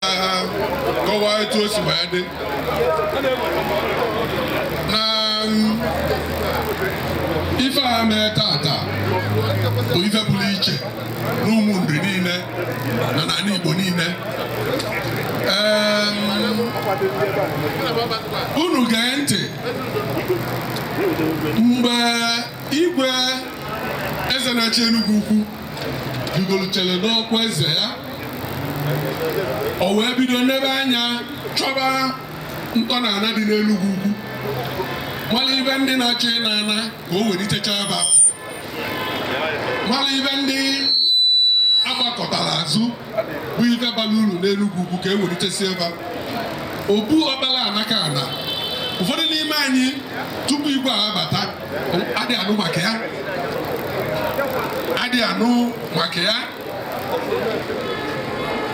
ha kọwaa etu o si wee dị na um, ife a mee tata bụ ife pụrụ iche n'Ụmụnri niile na n'ala Igbo niile unu gee ntị mgbe igwe eze na-achị Enugwu Ukwu rigolutere n'ọkwa eze ya o wee bido nebe anya chọba ntọala dị n'Enugwu Ukwu mara ife ndị na-achọ ịna ana ka o welitechaa fa mara ife ndị a gbakụtara azụ bụ ife bara uru n'Enugwu Ukwu ka e welitesie fa obu Ọkpalanakana ụfọdụ n'ime anyị tupu igwe a abata adị anụ maka ya adị anụ maka ya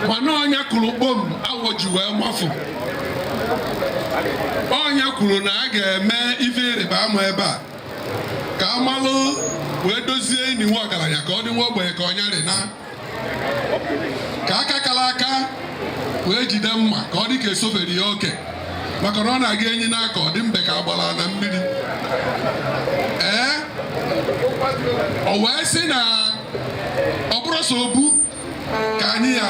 mana ọ nya kụrụ kpom awọ ji wee mafụ ọ nya kwuru na a ga-eme ife ịrịba ama ebe a ka a malụ wee dozie ini nwa ọgaranya ka ọ dị nwa ogbenye ka ọ nya rị na ka aka kara aka wee jide mma ka ọ dị ka e sofere ya oke maka na ọ na-aga enyi n'aka ọ dị mbe ka a gbara na mmiri ee ọ wee sị na ọ bụrụ sọ obu ka anyị ya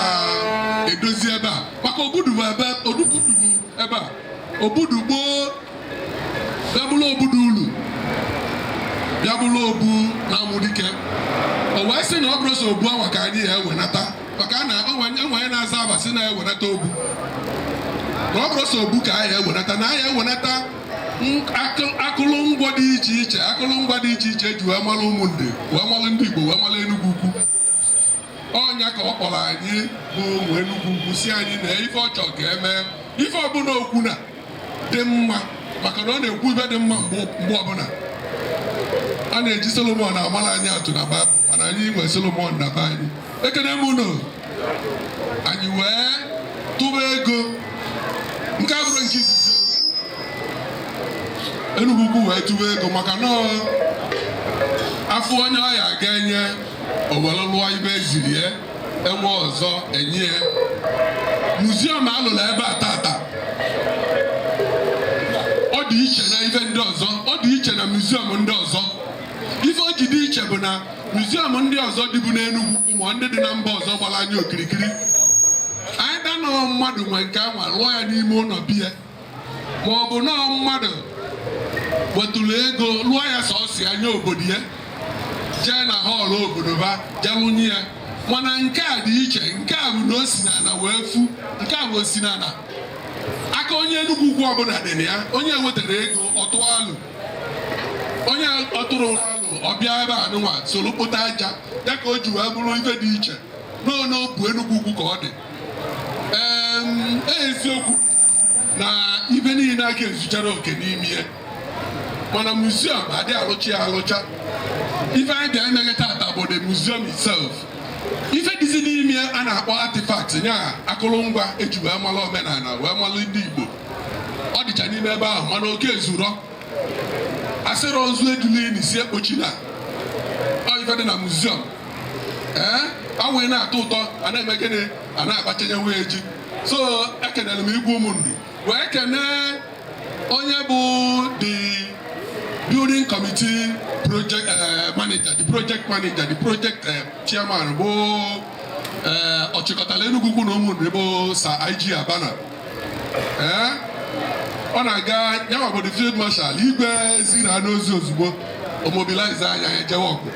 edozi ebe a maka obu dụ ebe ọ dụbu dụbu ebe a obu dụ gboo bịa bụrụ obu dụ ulu bịa bụrụ obu na-amụ dike o wee sị na ọ bụrụ sọ obu awa ka anyị ya ewenata maka na e nwee onye na-aza aba si na-ewenata obu na ọ bụrụ sọ obu ka anyị ewenata na anyị ewenata akụlụngwa dị iche iche akụlụngwa dị iche iche e ji wee malụ Ụmụnri wee malụ ndị Igbo wee malụ Enugwu Ukwu ọ nya ka ọ kpọrọ anyị bụ ụmụ Enugwu Ukwu sị anyị na ife ọ chọrọ ka e mee ife ọbụla o kwu na-adị mma maka na ọ na-ekwu ife dị mma mgbe ọbụla a na-eji Solomon amara anyị atụ na Baịbụl mana anyị nwee Solomon na be anyị ekene m unu anyị wee tụba ego nke a bụrụ nke izizi Enugwu Ukwu wee tụba ego maka na a fụ onye a ya ga-enye o were lụọ ife e ziri ya e nwee ọzọ e nye ya muziọm a lụrụ ebe a tata ọ dị iche na ife ndị ọzọ ọ dị iche na muziọm ndị ọzọ ife o ji dị iche bụ na muziọm ndị ọzọ dịbu n'Enugwu Ukwu ma ndị dị na mba ọzọ gbara anyị okirikiri anyị danọọ mmadụ nwe nke ya wee lụọ ya n'ime ụlọ be ya ma ọ bụ na mmadụ wetụrụ ego lụọ ya sọsọ ya nye obodo ya jee na họọlụ obodo ba jee wụnye ya mana nke a dị iche nke a bụ na o si n'ala wee fu nke a bụ o si n'ala aka onye Enugwu Ukwu ọbụla dị na ya onye weterọ ego ọ tụọ alo onye ọ tụrọ alo ọ bịa ebe a nụnwa soro kpota aja ya ka o ji wee bụrụ ife dị iche n'obu Enugwu Ukwu ka ọ dị ee eziokwu na ife niile aka ezucharọ oke n'ime ya mana muziọm adị arụcha ya arụcha ife anyị bịa imeghe tata bụ the museum itself ife dịzi n'ime a na-akpọ artifact ya akụrụngwa e ji wee mara omenala wee mara ndị Igbo ọ dịcha n'ime ebe ahụ mana o ka ezurọ a sịrị ozu ejuli ini sị ekpochina ife dị na muziọm ee awaị na-atọ ụtọ a na-eme gịnị a na-abachanyewe ji so ekenere m igwe Ụmụnri wee kenee onye bụ the building committee project eh, manager the project manager the project eh, chairman bụ eh, ọchịkọtala Enugwu Ukwu na Ụmụnri bụ Sir IG Abana ọ na-aga ya nwa bụ the field marshal igwe ziri ya n'ozi ozugbo o mobilize anyị ejewe ọgụ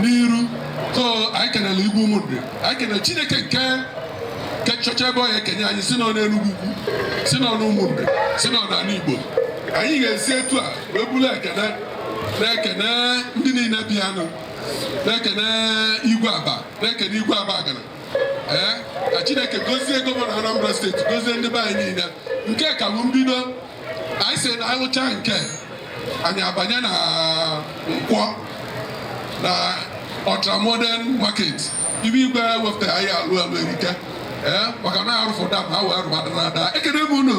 n'iru so anyị kenela igwe Ụmụnri anyị kenele chineke nke nke chọcha ebe ọ ya-ekenye anyị sị nọ n'Enugwu Ukwu sị nọ n'Ụmụnri sị nọ n'ala Igbo anyị ga-esi etu a wee buru ekene na-ekene ndị niile bịanụ na-ekene igwe aba na-ekene igwe Abagana ee ka chineke gozie gọvanọ Anambra steeti gozie ndị be anyị niile nke a ka bụ mbido anyị sị na alụcha nke a anyị abanye na Nkwọ na ultramodern market ife igwe wepụtara anyị alụ alụ erike ee maka na arụfụ dam ha wee rụbadara ada ekene m unu